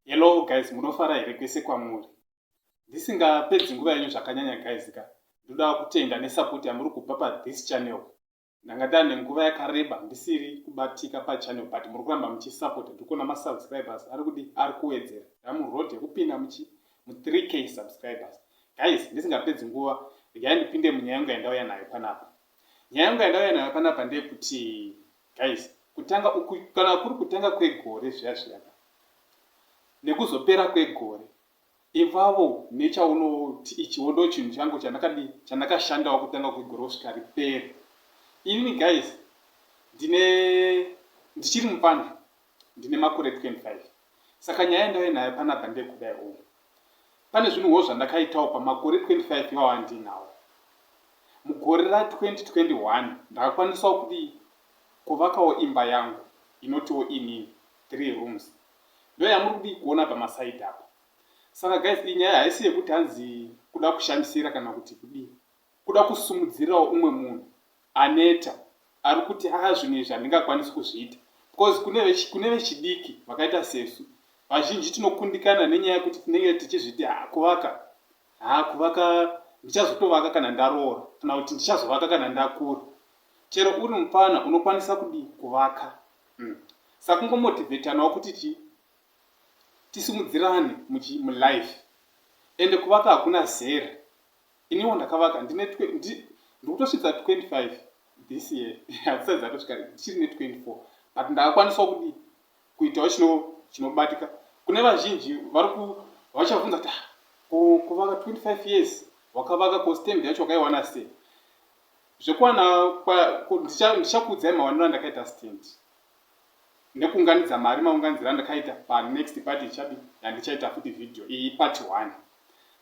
Hello guys, munofara here kwese kwamuri? Ndisingapedzi nguva yenyu zvakanyanya guys ka. Ndoda kutenda nesupport yamuri kupa pa this channel. Ndanga ndane nguva yakareba ndisiri kubatika pa channel but muri kuramba muchi support ndikuona ma subscribers ari kudi ari kuwedzera. Ndamu road yekupinda muchi mu 3k subscribers. Guys, ndisingapedzi nguva regai ndipinde munyaya yangu yandauya nayo panapa. Nyaya yangu yandauya nayo panapa ndeyekuti Guys kutanga uku kana kuri kutanga kwegore zviya zviya ka nekuzopera kwegore ivavo nechaunoti ichiwo ndo chinhu changu chandakadi chandakashandawo kutanga kwegore kusvika ripere inini guys ndine ndichiri mupfana Ndine makore 25 saka nyaya yandave nayo panabba ndeyekudai umu. Pane zvinhuwo zvandakaitawo pamakore 25 iwawo andiinawo. Mugore ra 2021 ndakakwanisawo kudii? Kuvakawo imba yangu inotiwo inini, three rooms. Ndoyamuri kudii kuona pamaside apa. Saka guys iyi nyaya haisi yekuti hanzi kuda kushandisira kana kuti kudii. Kuda kusumudzirawo umwe munhu aneta arikuti haa zvinhu izvi handingakwanisi kuzviita because kune vechidiki vakaita sesu vazhinji tinokundikana nenyaya yekuti tinenge tichizviti haa kuvaka haa kuvaka ndichazotovaka kana ndaroora kana kuti ndichazovaka kana ndakura chero uri mupfana unokwanisa kudii kuvaka hmm. sakungomotivetanawo kuti chii tisimudzirane mulife ende kuvaka hakuna zera Iniwo ndakavaka ndine twe, ndi, ndikutosvitsa 25 this year hadzisati dzatosvika ndichiri ne 24 but ndakakwanisawo kudii kuitawo chino chinobatika kune vazhinji vari ku vachavunza kuti ah, ku- kuvaka 25 years wakavaka ko stand yacho wakaiwana sei zvekuwana kwa- ku- ndicha- ndichakuudzai mawaniro andakaita stand nekuunganidza mari maunganidziro andakaita pa next party ichabi yandichaita futi video iyi part one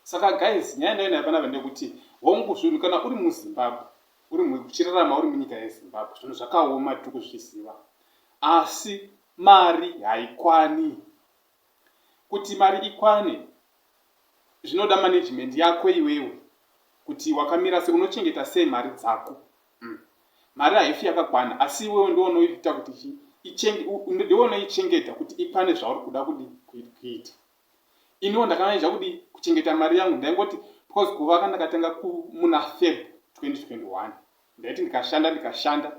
saka guys nyaya ndayo nayo panapa ndekuti hongu zvinhu kana uri muzimbabwe uri muchirarama uri munyika yezimbabwe zvinhu zvakaoma tiri kuzviziva asi mari haikwani kuti mari ikwane zvinoda management yako iwewe kuti wakamira se unochengeta sei mari dzako Umm mari haifi yakakwana asi iwewe ndiwe unoiita kuti chi ichenge u ndiwe unoichengeta kuti ikwane zvauri kuda kudi kuit kuita iniwo ndakanaija kudi kuchengeta mari yangu ndaingoti because kuvaka ndakatanga ku muna feb 2021 ndaiti ndikashanda ndikashanda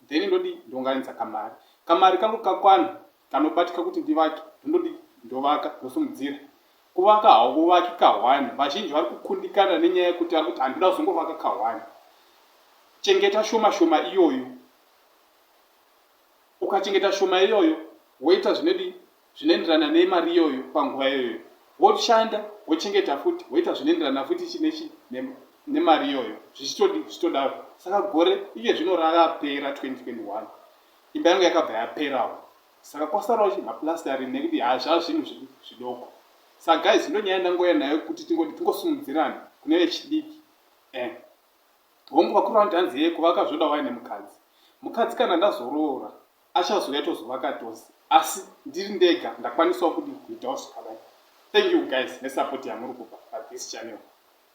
then ndodi ndonganidza kamari kamari kangu kakwana kanobatika kuti ndivake ndondodi ndovaka ndosimudzira Kuvaka hauvaki kahwani. Vazhinji vari kukundikana nenyaya yekuti ari kuti handina kuzongovaka kahwani. Chengeta shoma shoma iyoyo. Ukachengeta shoma iyoyo woita zvinodi zvinoenderana nemari iyoyo panguva iyoyo. Woshanda wochengeta futi woita zvinoenderana futi chinechi nemari iyoyo zvichitodi zvichitodaro. Saka gore iye zvino rakapera 2021 imba yangu yakabva yaperawo. Saka kwasarawo chi maplastering nekuti haa zvaa zvinhu zvi, zvidoko. Sa guys ndo nyaya yandangouya nayo kuti tingoti tingosimudzirane kune vechidiki. Eh. Hongu vakuru vanoti hanzi yee kuvaka zvoda waya nemukadzi. Mukadzi kana ndazoroora achazouya tozovaka tose. Asi ndiri ndega ndakwanisawo kudii kuitawo zvakadai. Thank you guys nesupport yamuri kupa pa this channel.